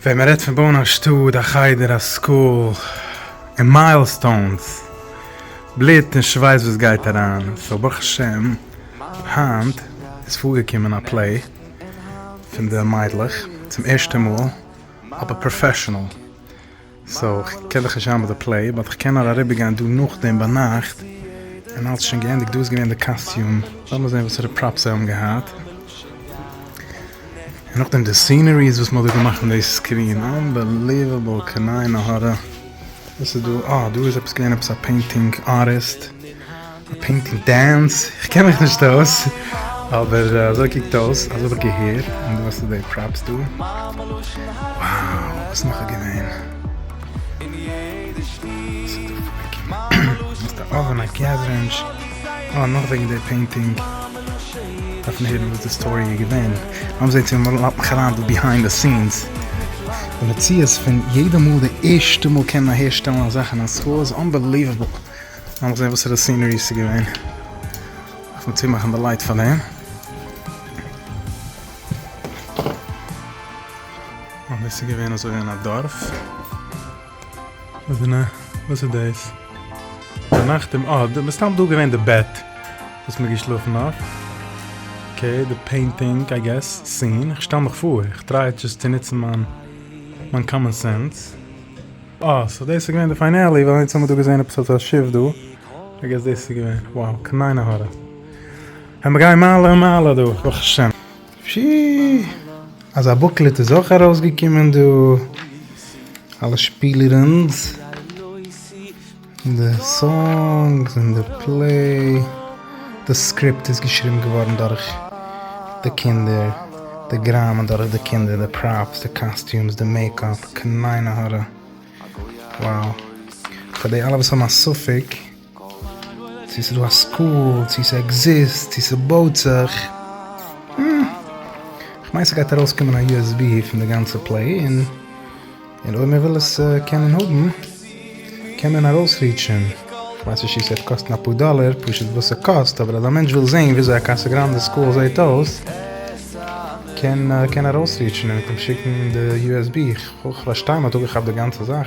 ווען מען רעדט פון בויען א שטאט, א חדר, א סקול, און מיילסטאונס, בלוט און שווייס וואס גייט אריין, סאו ברוך השם היינט איז פארגעקומען א פלעי פון די מיידלעך צום ערשטע מאל אבער פראפעשענעל, סאו איך קען דיך נישט העמער די פלעי באט איך קען נאר אריבער גיין דא נאכדעם ביינאכט און אלס שוין געענדיגט דא איז געווען די קאסטיום לאמיר זעהן וואסערע פראפס זיי האבן געהאט און נאכדעם די סינעריס וואס מ'האט דא געמאכט אין די סקרין אנבעליוועבל קנאי נהרא וואס איז דא אה דא איז עפעס געווען עפעס א פעינטינג ארטיסט. די פינקל דענס, איך קען מיך נישט אויס, אבער אזוי קוקט אויס, אזוי האב איך געהערט, און דו האסט די פראפס דא, wow, וואס נאך איז געווען? וואס איז דא פארקערט? א אווען, א געז רענטש, אה, נאך וועגן די פעינטינג, דארף מען הערן וואס די סטארי איז געווען, לאמיר זעהן צו מ'לאזט מיך אריין דא ביהיינד די סינס, די מציאות פון יעדע מאל די ערשטע מאל קען אהער שטעלן אזאך אין א סקול איז אנבעליוועבל. לאמיר זעהן וואסערע סינערי ס'איז געווען. דארף מען צומאכן די לייט פאר דעם. און דאס איז געווען אזוי אין א דארף. וואזענע? וואס איז דאס? ביינאכט אום אה, דא, מסתם דא געווען די בעט וואס מ'האט געשלאפן אויף. אקעי, די פעינטינג איי געס, סין, איך שטעל מיך פאר, איך טריי דזשאסט צו נוצן מיין מיין קאמאן סענס. אה, סאו דאס איז געווען די פיינעלי, ווייל היינט האמיר דא געזען עפעס אזא שיף דא, איי געס דאס איז געווען, wow, קניינע הארע. העמיר גיין מעלה און מעלה דא, ברוך השם. שיעעע, אזא בוקלעט איז אויך ארויסגעקומען דא, אלע שפילירענס. די סאנגס און די פלעי. די סקריפט איז געשריבן געווארן דורך די קינדער, די גראמען דורך די קינדער, די פראפס, די קאסטיומס, די מעיקאפ, כ'מיין א הארא וואו. פאר די אלע וואס האבן א ספק צו ס'איז דא א סקול, צו ס'עקזיסט, צו ס'בויט זיך, כ'מיין ס'גייט ארויסקומען א יו עס בי פון די גאנצע פלעי און. און אויב מען וויל עס קענען האבן קען מען ארויס ריטשען, כ'ווייס נישט צו ס'וועט קאסטן אפאר דאלער, פשוט וואס ס'קאסט, אבער אז א מענטש וויל זעהן וויאזוי א קאסא גראנדע סקול זעהט אויס, קען קען ארויס ריטשען און מיט אים שיקן די usb, כ'פארשטיי מ'האט אפגעכאפט די גאנצע זאך.